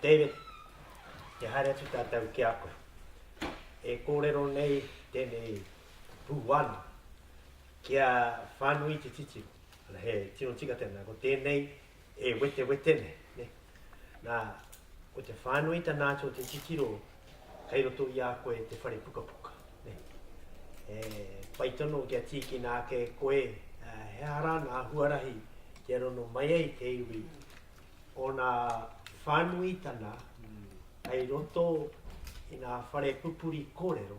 David, kia haere atu tātou ki a koe. E kōrero nei tēnei pūwhānau kia whānui te titiro. Ana, he tino tika tēnā, ko tēnei e wetewete nei. Nā, ko te whānuitanga atu o te titiro Kei roto i a koe te whare pukapuka. He pai tonu kia tīkina ake e koe he aha rā ngā huarahi kia rongo mai ai te iwi ōna whānuitanga kei roto i ngā whare pupuri kōrero,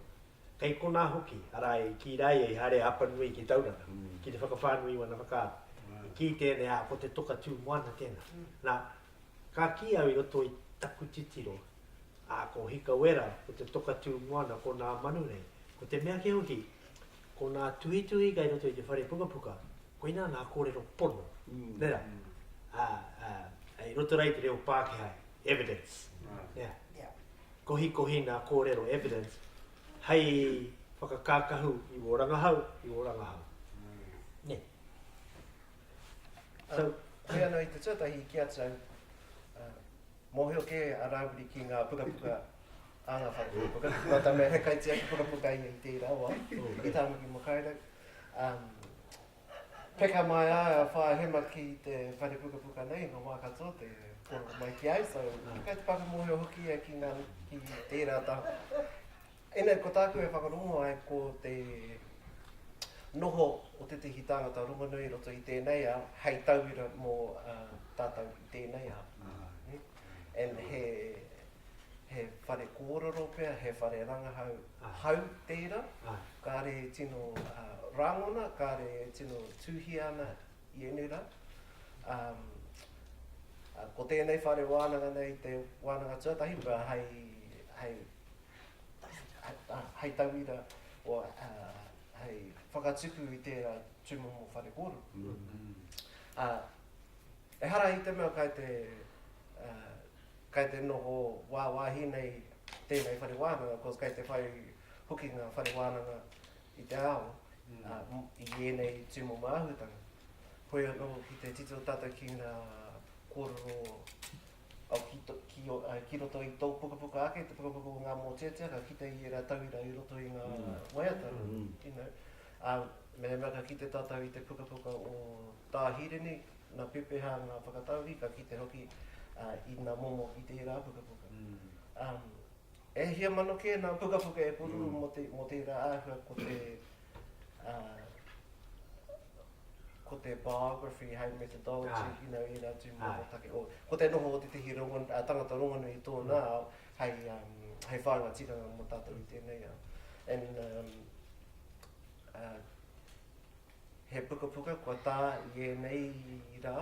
kei konā hoki, arā, i kī rā ia i haere a Apanui ki Tauranga ki te whakawhānui i ōna whakaaro. I kī tēnei, ā, ko te toka tū moana tēnā. Nā, ka kī au i roto i taku titiro, Ā, ko Hikawera, ko te toka tū moana, ko nā Manu nei. Ko te mea kē hoki, ko nā tuhituhi kai roto i te whare pukapuka, koinā ngā kōrero pono, nē rā, ā, ā, i roto rā i te reo Pākehā, evidence, nē rā. Kohikohi nā kōrero evidence hei whakakākahu i wō rangahau, i wō rangahau. Nē. So. Hei anō i te tuatahi ki a tau, Mōhio kē a Rāwiri ki ngā pukapuka a ngā whare pukapuka, nō tā mea he kaitia ki pukapuka ia i tērā wā, i Tāmaki Makaurau. Peka mai ai a Whaahema ki te whare pukapuka nei, ngā wā katoa te pōro mai ki ai, so kai te whakamōhio hoki ia ki tērā taha. Ēnei ko tāku e whakarongo ai ko te noho o tētehi tāngata rongonui i roto i tēnei ao hei tauira mō tātou i tēnei ao. And he he whare kōrero pea, he whare rangahau hau tērā, kāre e tino rāngona, kāre e tino tūhia ana i ēnei rā. Ko tēnei whare wānanga nei te wānanga tuatahi pea hei hei tauira, or hei whakatupu i tērā tūmomo whare kōrero. Ehara i te mea kai te, kai te noho wāwāhi nei tēnei whare wānanga, koz kai te whai hoki ngā whare wānanga i te ao, i ēnei tūmomo āhuatanga. Hoi anō ki te tito tātou ki ngā kōrero, Ki roto i tō pukapuka ake, te pukapuka o ngā mōteatea, ka kite i ērā tauira i roto i ngā waiata, you know. Ā, mehemea ka kite tātou i te pukapuka o Tā Hirini, nā pepeha ngā whakatauri, ka kite hoki i nā momo i tērā pukapuka. E hia mano kē nā pukapuka e pururu mō tērā āhua ko te ko te biography hei methodology, you know, ērā tūmomo take. Ko te noho o tētahi tangata rongonui i tōna ao hei whāinga tikanga mō tātou i tēnei ao. And He pukapuka kua tā i ēnei rā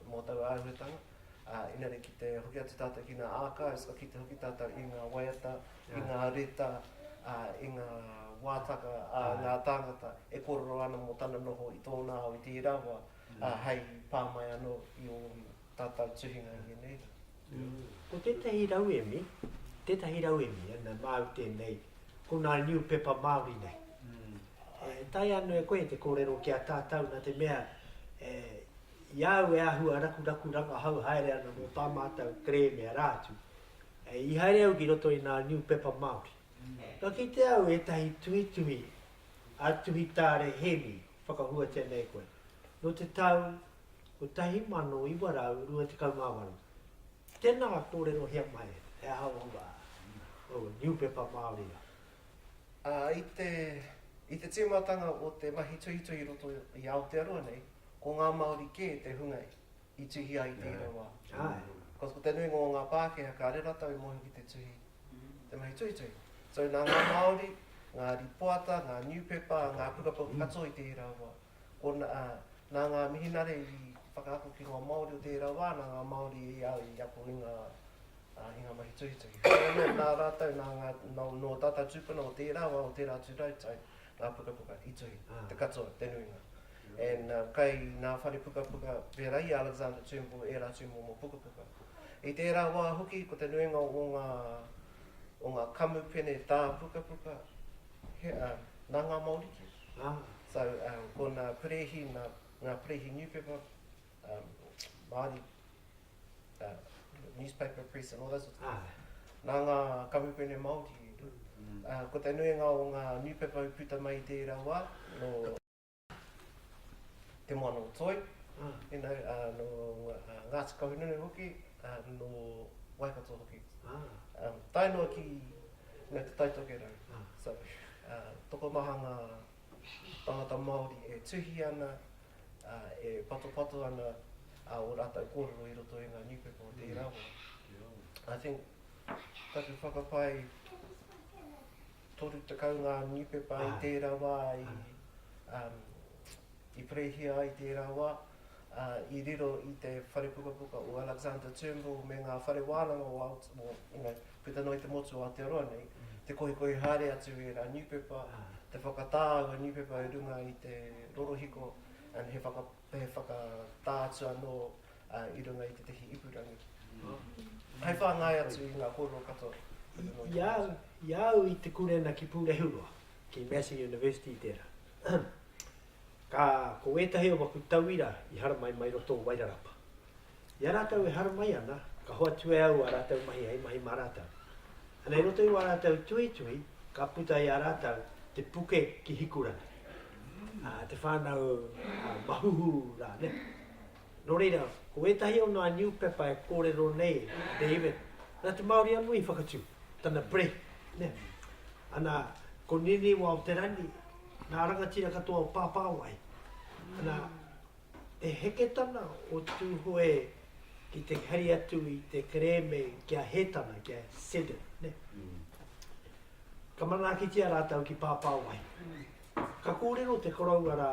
mō taua āhuatanga, ā, engari ki te hoki atu tātou ki ngā archives, ka kite hoki tātou i ngā waiata, i ngā reta, ā, i ngā wātaka a ngā tāngata e kōrero ana mō tana noho i tōna ao i tērā wā, ā, hei pā mai anō i ōna. Tātou tuhinga ngēnei rā. Ko tētahi rauemi, tētahi rauemi e mea māu tēnei, ko ngā niupepa Māori nei. E taea ana e koe te kōrero ki a tātou nā te mea e, i a au e āhua rakuraku rangahau haere ana mō tā mātou kerēme arā atu, e, i haere au ki roto i ngā niupepa Māori. Ka kitea au ētahi tuhituhi a Tuhitāre Hēmi, whakahuatia nei koe, nō te tau 1928. Tēnā kōrerohia mai he aha ō wā, ō niupepa Māori rā. Ā, i te tīmatanga o te mahi tuhituhi i roto i Aotearoa nei, ko ngā Māori kē te hunga i tuhi ai i tērā wā. Ko te nuinga o ngā Pākehā, kāre rātou i mōhio ki te tuhi, te mahi tuhituhi. So, nā ngā Māori, ngā rīpoata, ngā niupepa, ngā pukapuka katoa i tērā wā. ko nā, nā ngā mihinare i whakaako ki ngā Māori o tērā wā, nā ngā Māori i a, i ako i ngā, i ngā mahi tuhituhi. Heoi anō, nā rātou, nā ngā, nō, nō tātou tūpuna o tērā wā, o tērā atu rautau, ngā pukapuka i tuhi, te katoa, te nuinga. And uh, kai nā whare pukapuka, pērā i a Alexander Turnbull, ērā tūmomo pukapuka. I tērā wā hoki, ko te nuinga o ngā, o ngā kamupene tā pukapuka, he, uh, nā ngā Māori kē. So ko na Perehi, na nga Perehi newspaper, um, Maori uh, newspaper press and all those sorts of things. Na nga kamupene Maori, uh, ko te nuinga o nga newspaper i puta mai i tera wa, no Te Moana o Toi, you know, uh, no uh, Ngati Kahununu hoki, uh, no Waikato hoki. Um, tae noa ki, you know, Te Tai Tokerau. So, Tokomaha ngā tangata Māori e tuhi ana, e patopato ana ō rātou kōrero i roto i ngā niupepa o tērā wā. I think taku whakapae, 30 ngā niupepa i tērā wā i I pereihia ai tērā wā, ā, i riro i te whare pukapuka o Alexander Turnbull me ngā whare wānanga o Aot, o, you know, puta noa i te motu o Aotearoa nei, te kohikohi haere atu i ērā niupepa, te whakatā aua niupepa i runga i te rorohiko, and he whaka, he whakatā atu anō, ā, i runga i tētahi ipurangi. Hei whāngai atu i ngā kōrero katoa puta noa i te motu. I, i a au, i a au i te kūrena ki Pūrehuroa, ki Massey University tērā. Ka, ko wētahi o waku tauira i haramai mai roto o Wairarapa. I a rātou e haramai ana, ka hoatu e au ā rātou mahi hei mahi mā rātou. Ana i roto i wā rātou tuhituhi, ka puta i a rātou te puke ki Hikurangi, te whānau a Mahuhu rānei. Nō reira, ko ētahi o ngā niupepa e kōrero nei a David, nā te Māori anō i whakatū, tana Breath, nē? Ana, ko Niniwa o Te Rangi, ngā rangatira katoa o Pāpāwai. Ana, he heketana o Tūhoe ki te hari atu i te kerēme kia hē tana, kia sedden, nē? Ka manaakitia rātou ki Pāpāwai. Ka kōrero te koroua rā,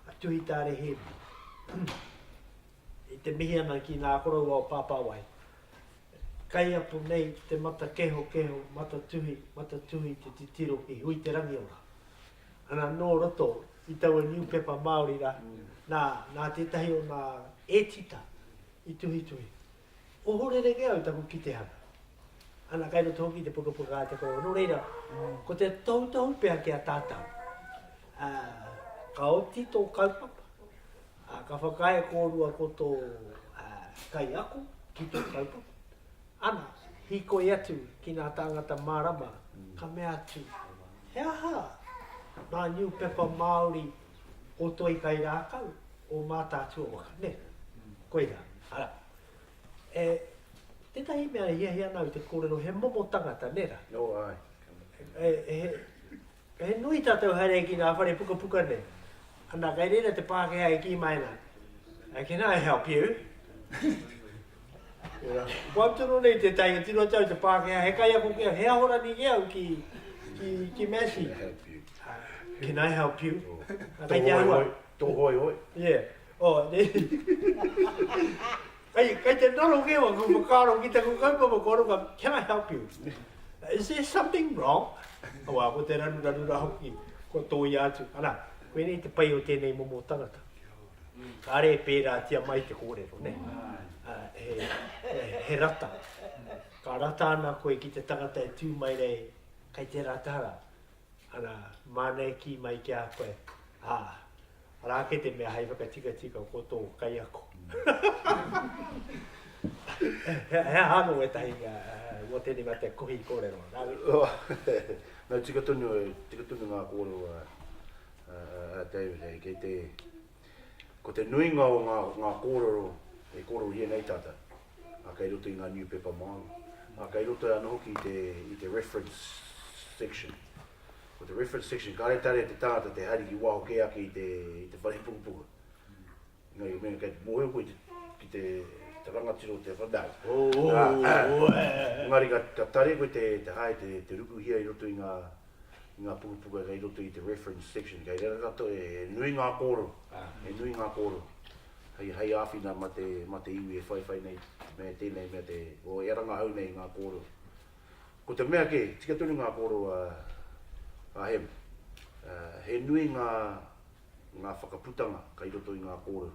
a Tuhitāre Hēmi, i te mihi ana ki ngā koroua o Pāpāwai, kai apu nei te mata kehokeho, mata tuhi, mata tuhi te titiro i hui te rangiora. Ana nō roto i taua niupepa Māori rā, nā, nā tētahi o nā ētita i tuhituhi. Ohorere kē au taku kitehanga. Ana, kai roto hoki i te pukapuka a Te Korowai. Nō reira, ko te tohutohu pea ki a tātau, ka oti tō kaupapa, ka whakaae kōrua ko tō kaiako ki tō kaupapa, ana, hīkoi atu ki ngā tāngata mārama, ka mea atu, he aha ngā niupepa Māori o Toikairākau, o Mātaatua-waka, nē? Koirā, arā. E, tētahi mea e hiahia ana au te kōrero, he momo tangata, nē rā? Nō, āe. E, e, he, he nui tātou haere ki ngā whare pukapuka nei. Anā, kei reira te Pākehā e kī mai ana, Can I help you? Kua tunu nei te tai, he tino tau te Pākehā, he kaiako ki au, he aho rani ki au ki, ki, ki Massey. Can I help you? Tō hoi hoi, tō hoi hoi. Yeah. Oh, ne. Kai, kai te noro ke wa, ku whakaaro ki taku kaupapa kua ruka, can I help you? Is there something wrong? Awa, ko te ranu ranu rā hoki, kua tōia atu. Ana, koe nei te pai o tēnei momo tangata. Kare e pērātia mai te kōrero, ne? He rata. Ka rata ana koe ki te tangata e tū mai nei, kei te rata ra. Ana, māna e kī mai ki a koe, ā, arā ake te mea hei whakatikatika ko tō kaiako. He aha anō ētahi mō tēnei mea te kohi kōrero? Nō, tika tonu, tika tonu ngā kōrero a David hei, kei te, ko te nuinga o ngā, ngā kōrero e kōrerohia nei tātou, a kei roto i ngā niupepa Māori, a kei roto ana hoki i te, i te reference section. Ko te reference section, kāre tare te tangata te haere ki waho kē ake i te, i te wharepukupuku. Engari ka mea, kei te mōhio koe ki te rangatira o te whanaunga. Ooh! Engari ka tare koe te hae te rukuhia i roto i ngā pukapuka kei roto i te reference section. Kei reira katoa, he nui ngā kōrero, he nui ngā kōrero hei āwhina mā te iwi e whaiwhai nei me tēnei mea te, o ia rangahau nei ngā kōrero. Ko te mea kē, tika tonu ngā kōrero a Hema. He nui ngā ngā whakaputanga kai roto i ngā kōrero.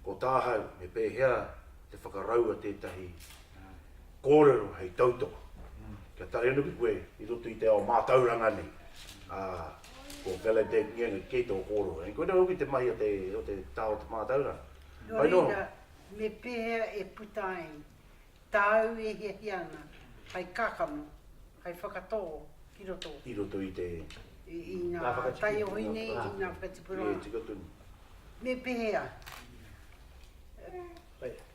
Ko tāhau, me pēhea te whakaraua tētahi kōrero hei tautoko? Kia taea noki koe i roto i te ao mātauranga nei, ā, ko Valedette Ngenga, kei tō kōrero nei, koinei hoki te mahi o te, o te taha o te mātauranga. Nō reira, me pēhea e puta ai Tāu e hiahia ana hai kakama, hai whakatō ki roto. I roto i te. I ngā taiohi nei, i ngā whakatipuranga. E tika tonu. Me pēhea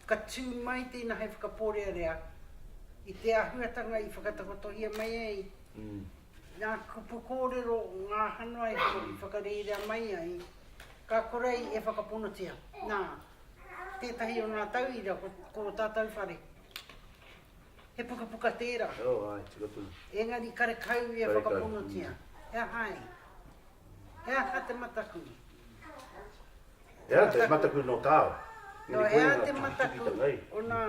ka tū mai tēnā hai whakapōrearea i te āhuatanga i whakatakotohia mai ai ngā kupu kōrero, ngā hanoai i whakarerea mai ai, ka korei e whakaponotia. Nā. Tētahi o ngā tauira ko ko ō tātou whare. He pukapuka tērā. Oh, ai, tika tonu. Engari karekau ia whakaponotia. Mm. He aha ai? He aha te mataku? He aha te mataku no tāo? No, he aha te mataku o nā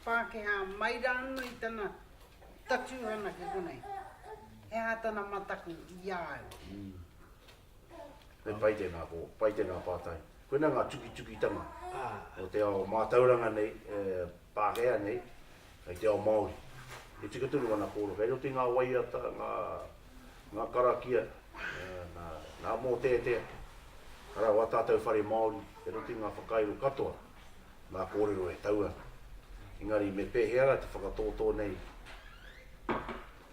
Pākehā mai rāno i tana tatuhana ki konei? He aha tana mataku i a au? Mm. Me pai tēnā, ko pai tēnā pātai. Koinā ngā tukitukitanga o te ao mātauranga nei, e Pākehā nei, hei te ao Māori. He tika tonu ana kōrero. Kei roto i ngā waiata, ngā, ngā karakia, nā, nā Mōteatea, ka rau ā tātou whare Māori, kei roto i ngā whakairo katoa, ngā kōrero e tau ana. Engari me pēhea rā te whakatōtō nei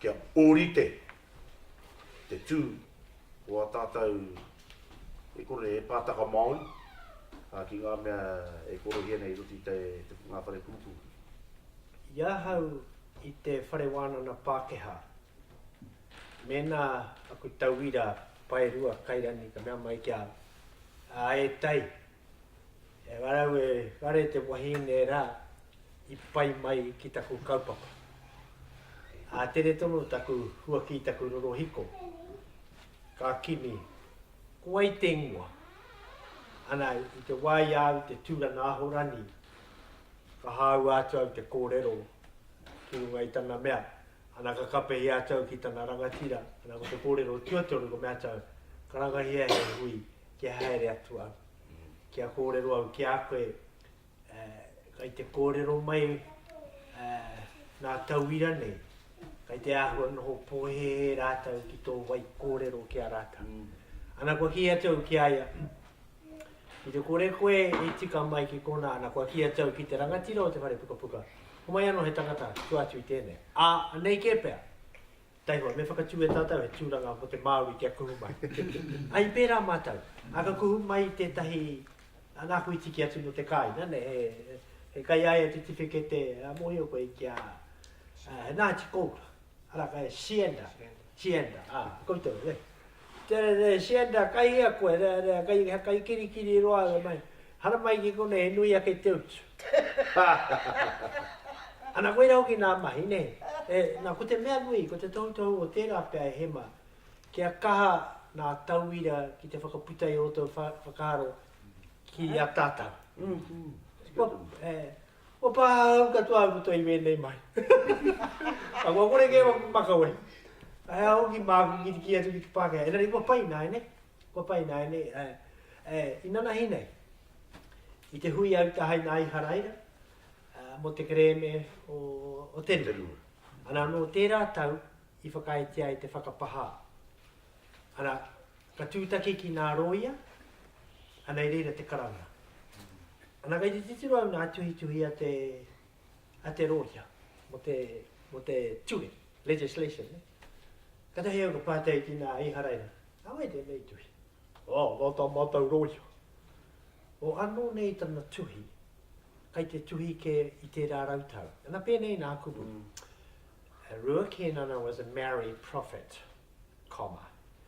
kia ōrite te tū o a tātou e kore e pātaka Māori ki ngā mea e korohia nei i roto i ngā whare pūpū. I ahau i te Whare Wānana Pākehā, mēnā aku tauira paerua kairangi ka mea mai ki au, ā e Tai, He ngarau e ngare te wahine rā i pai mai ki taku kaupapa. Ātere tonu taku huaki i taku rorohiko, ka kimi, ko wai te ingoa? Ana i te wā i a au te tūranga Ahorani, ka hāua atu au te kōrero ki runga i tana mea, ana ka kapehia atu au ki tana rangatira, ana ko te kōrero tuatoru ko mea atu au, karangahia he hui kia haere atu au. Kia kōrero au ki a koe, kai te kōrero mai ngā tauira nei, kai te āhua noho pōhēhē rātou ki tō wai kōrero ki a rātou. Ana kua kī atu au ki a ia, ki te kore koe e tika mai ki konā, ana kua kī atu au ki te rangatira o te whare pukapuka, homai anō he tangata, tua atu i tēnei. Ā, anei kē pea, Tau noa, me whakatū e tātou he tūranga mō te Māori kia kuhu mai. Ā, i pērā mātou. Ā, ka kuhu mai tētahi, ā, nāku i tiki atu nō te kāinga, nē, he, he kaiaea tiwhikete, ā, mōhio koe ki a, ā, he Ngāti Koura, arā, kei Sianda, Sianda, ā, koutou, nē. Tere re sienda kai hea koe re re kai he kai kiri kiri roa re mai hara mai ki konei he nui ake te utu ana koira hoki na mahi ne e na ko te mea nui ko te tohu tohu o tera pea e hema kia kaha na tauira ki te whakaputa i roto whakaro ki a tatau. Opa, au katoa au katoa i wēnei mai. Ka ngokore kē waku makawe. Ae a hoki māku ki te kī atu ki te Pākehā, engari kua pai nāianei, kua pai nāianei, ae, e, inanahi nei, i te hui au tahai nā Iharaira, a, mō te kerēme o, o te rua. Ana, nō tērā tau i whakaaetia ai te whakapahā. Ana, Ka tūtaki ki nā rōia, ana i reira te karanga. Ana kei te titiro au nā tuhituhi a te, a te rōia mo te, mo te ture, legislation, ne? Katahi au ka pātai ki nā Iharaira, nā wai tēnei tuhi? Oh, nō tā mātou rōia. Oh, anō nei tana tuhi, kei te tuhi kē i tērā rautau. Ana pēnei nā kupu. Mm. Rua Kēnana was a married prophet, comma.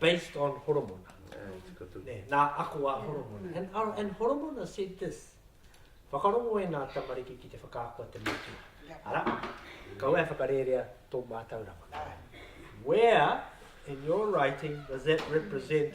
based on Horomona. Nā ako a Horomona. And, uh, and Horomona said this, whakarongo e nā tamariki ki te whakaako a te matua. Ara, kau e whakarērea tō mātau rama. Where in your writing does that represent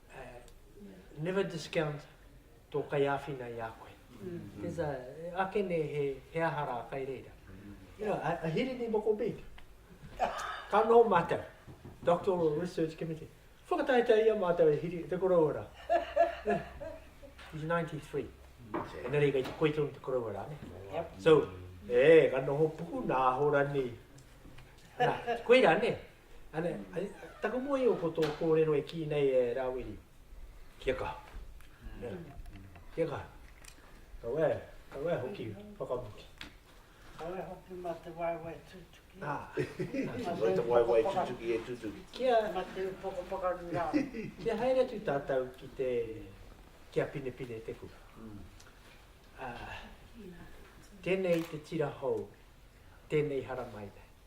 never discount tō kaiāwhina i a koe. There's a, ake ne he, he aha rā kai reira. You know, a, a hirini moko big. Ka nō mātou, Doctoral Research Committee. Whakataetae ia mātou e hiri, te koroua rā. He's 93. Ena rei kai te koito te koroua rā, ne? So, e, ka noho puku nā hora ni. Nā, koe rā, ne? Ana, taku mōhio ko tō kōrero e kī nei e Rāwiri, kia kaha. Kia kaha. Kau e, kau e hoki whakamutu. Kau e hoki mā te waewae tūtuki. Nā. Mā te waewae tūtuki e tūtuki. Kia. Mā te upoko whakaru rā. Kia haere atu tātou ki te, kia pinepine te kura. Tēnei te tira hou, tēnei haramai nei.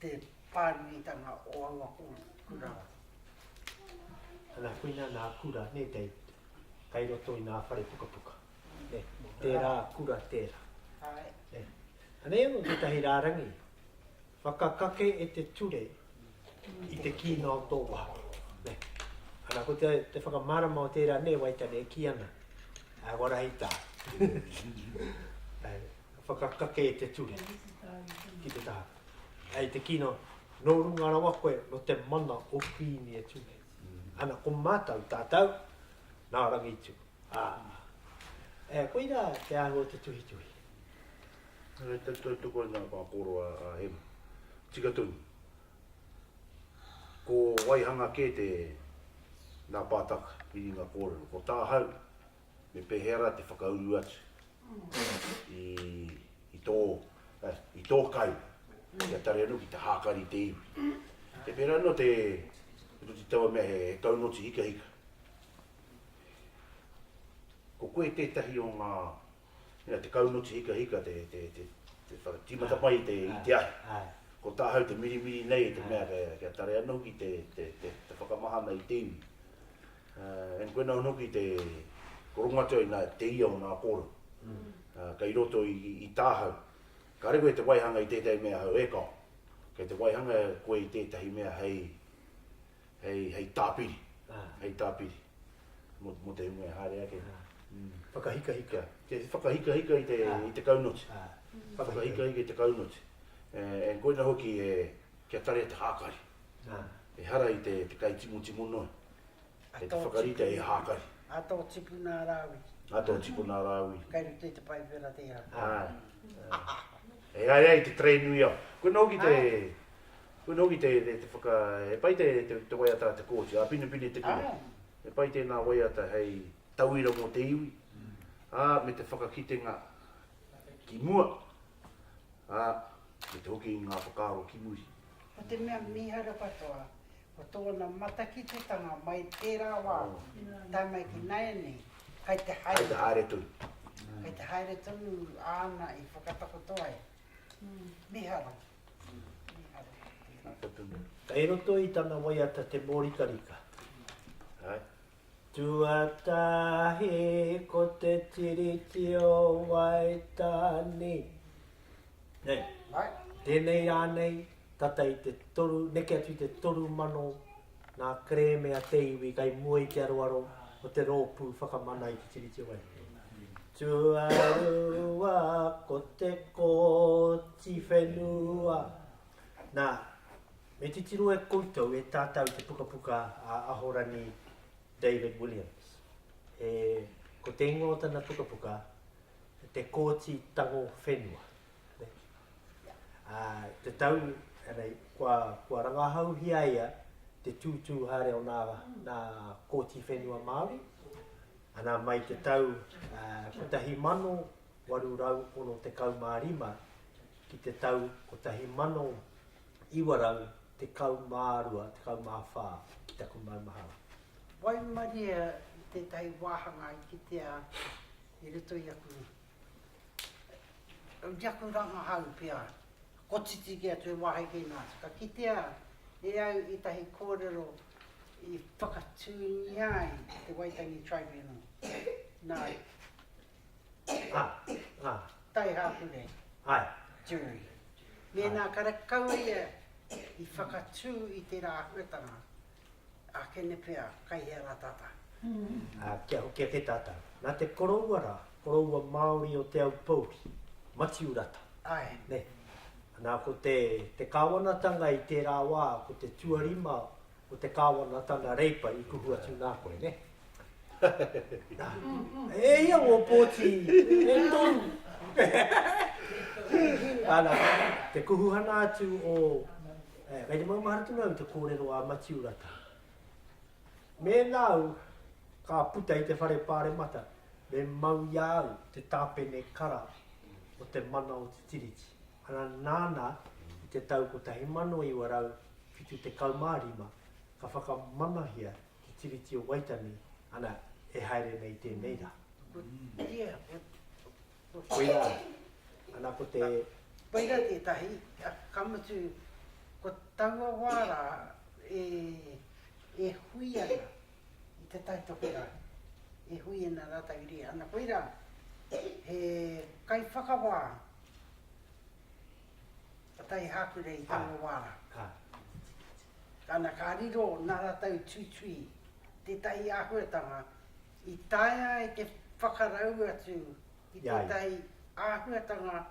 te pānuitanga o aua kura. Ana whina nā kura ne te kai roto i nā whare pukapuka. Tērā kura tērā. Anei anō tētahi rārangi whakakake e te ture i te kīnga o tō waha. Ana ko te, te whakamārama o tērā ne Waitane e kī ana. Ai warahi tā. Ka whakakake te tuhi ki te taha. Hei te kino, nō runga rawa koe, nō te mana o Kuini e tuhi. Ana ko mātou, tātou, nā Rangitu. Ā. E, koirā te āhua o te tuhituhi. Hei te tautoko i ngā pāpōro a Hema. Tika tonu. Ko waihanga kē te, nā Pātaka, i runga kōrero. Ko tāhau, me pehea ra te whakauru atu i, i tō, eh, i tō kai kia tare anu ki te hākari i te iwi. E pērā anō te, ko te taua mea he, he kaunoti hikahika. Ko koe tētahi o ngā, mea, te kaunoti hikahika, te, te, te, te whakatīmata mai i te, i te ahi. Ko tāhau te mirimiri nei te mea kia, kia tare anu ki te, te, te, te whakamahana i te iwi. And koina anō ki te korongatia i nā te ia o nā kōrero kei roto i tāhau. Kāre koe te waihanga i tētahi mea hou, e kao. Kei te waihanga koe i tētahi mea hei, hei, hei tāpiri, hei tāpiri mō, mō te hunga e haere ake. Whakahikahika. Te whakahikahika i te, i te kaunoti. Whakahikahika i te kaunoti. And koina hoki e, kia tarea te hākari. Ehara i te kai timotimo noa, kei te whakarite he hākari. A tō tipuna a Rāwi. A tō tipuna a Rāwi. Kai rite i te paipera tērā. Āe. Āe, āe, te tray nui au. Koina hoki te, koina hoki te whaka, he pai te waiata a Te Kooti, a Pinepine Te Kura. He pai tēnā waiata hei tauira mō te iwi, ā, me te whakakitenga ki mua, ā, me te hoki i ngā whakaaro ki muri. Ko te mea mīharo katoa, ko tōna matakititanga mai tērā wā, tae mai ki nāianei, kai te haere tonu. Kai te haere tonu. Kai te haere tonu āna i whakatakoto ai. Mīharo. Mīharo. Mīharo. Kei roto i tana waiata te mōrikarika. Hai. Tuatahi ko te Tiriti o Waitāne. Nei, tēnei rānei, tata i te toru, neke atu i te toru mano ngā kerēme a te iwi kai mua i te aroaro o te rōpū whakamana i te Tiriti o Waitāne. Tuarua ko te Kōti Whenua. Nā, Me titiro e koutou e tātau te pukapuka a Ahorani David Williams. E, ko te ingoa o tana pukapuka, Te Kōti Tango Whenua. A, te tau, anei, kua, kua rangahauhia ia te tūtū haere o nā, nā Kōti Whenua Māori, ana mai te tau uh, 1865 ki te tau 1800 912, 14 ki taku maumahara. Waimaria i tētahi wāhanga i kitea i roto i aku, i aku rangahau pea, kotiti kē atu he wāhi kē nā, ka kitea e au ētahi kōrero i whakatūngia ai te Waitangi Tribunal, nā, Taihāku nei, Jury. Mēnā karekau ia i whakatū i tērā āhuatanga, ākene pea, kai hea rā tātau? Kia hoki ake tātau. Nā te koroua rā, koroua Māori o Te Aupōuri, Matiu Rata. Nē. Nā, ko te kāwanatanga i tērā wā, ko te tuarima Ko te Kāwana tana reipa i kuhu atu nā koe, nē? E ia ngō pōti e toru. Ana, te kuhuhana atu o, e, kei te maumaharatu nau te kōrero a Matiu Rata. Mēnā au ka puta i te whare pāremata, me mau i a au te tāpene kara o te mana o te tiriti. Ana, nāna, i te tau 1900, 75, ka whakamanahia te Tiriti o Waitangi, ana, e haere nei tēnei rā. Koirā, ana, ko te. Koirā tētahi, ka mutu, ko taua wā rā e hui ana i te tautoko rā, e hui ana rātou i reira, ana, koirā, he kaiwhakawā. Kotahi Hākure i taua wā rā. Ana ka riro nā rātou tuitui tētahi āhuatanga i taea ai te whakarau atu i tētahi āhuatanga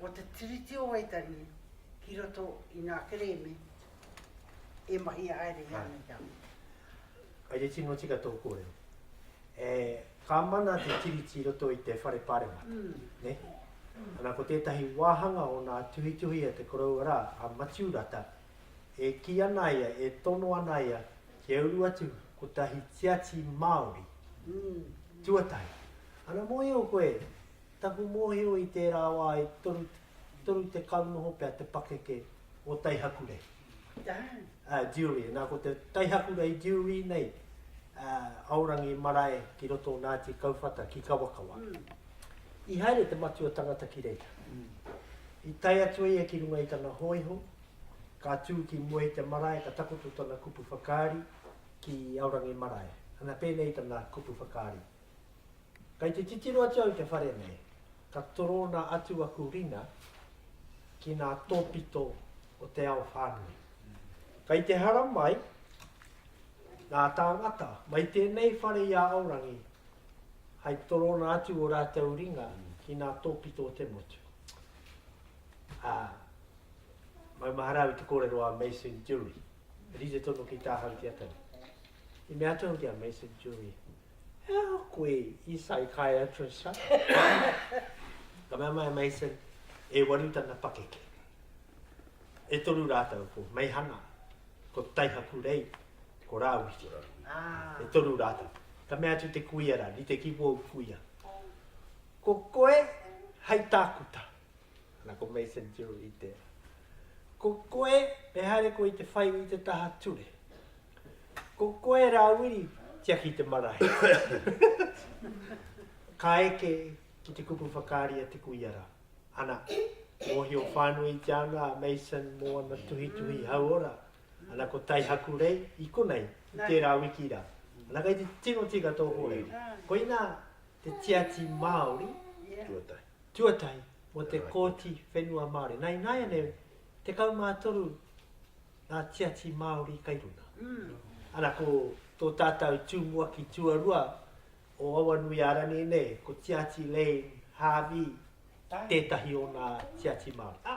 o te Tiriti o Waitangi ki roto i ngā kerēme e mahi haere i a Ngāi Tahu. Kei te tino tika tō kōrero. E. Ka mana te Tiriti i roto i te Whare Paremata, ne? Ana ko tētahi wāhanga o nā tuhituhi a te koroua rā, a Matiu Rata, e kī ana ia, e tono ana ia kia uru atu kotahi tiati Māori tuatahi. Ana mōhio koe, taku mōhio i tērā wā i 30 noho pea te pakeke o Taihakure. Dewey, na ko te taihakura i Dewey nei, Aorangi marae ki roto o Naati Kauwhata ki Kawakawa. I haere te matua tangata ki reira. I tae atu ia ki runga i tana hoiho, ka tu ki mua i te marae ka takoto tana kupu whakaari ki Aorangi marae. Ana penei tana kupu whakaari, Kei te titiro atu au i te whare nei, ka torona atu aku ringa ki ngā tōpito o te ao whānui. Kei te hara mai ngā tāngata mai tēnei whare i a Aorangi hai torona atu o rātou ringa ki ngā tōpito o te motu. Ā, maumahara au i te kōrero a Mason Jury. Rite tonu ki tāhau te atangi. I mea atu ki a Mason Jury, He aha koe i psychiatrist, ha? Ka mea mai a Mason, E waru tana pakeke. E toru rātou ko Meihana, ko Taihakurei, ko Rāwiri. E toru rātou. Ka mea atu te kuia rā, rite ki wōu kuia. Ko koe hei tākuta. Ana ko Mason Jury tērā. Ko koe, e haere koe i te whai i te taha ture. Ko koe rā Wiri, tiaki te marae. Ka eke ki te kupu whakaari a Te Kuia rā. Ana, mōhio whānui i te anga a Mason mō ana tuhituhi hauora. Ana, ko Taihaku Rei i konei, i tērā wiki rā. Ana, kei te tino tika tō kōrero. Koinā te tiati Māori, tuatahi, mō te Kōti Whenua Māori. Nā, ināianei, 13 ngā tiati Māori kai runga. Ana ko tō tātau tūmuaki tuarua o Awanuiārani nei, ko Tiati Lane Harvey tētahi o nā tiati Māori.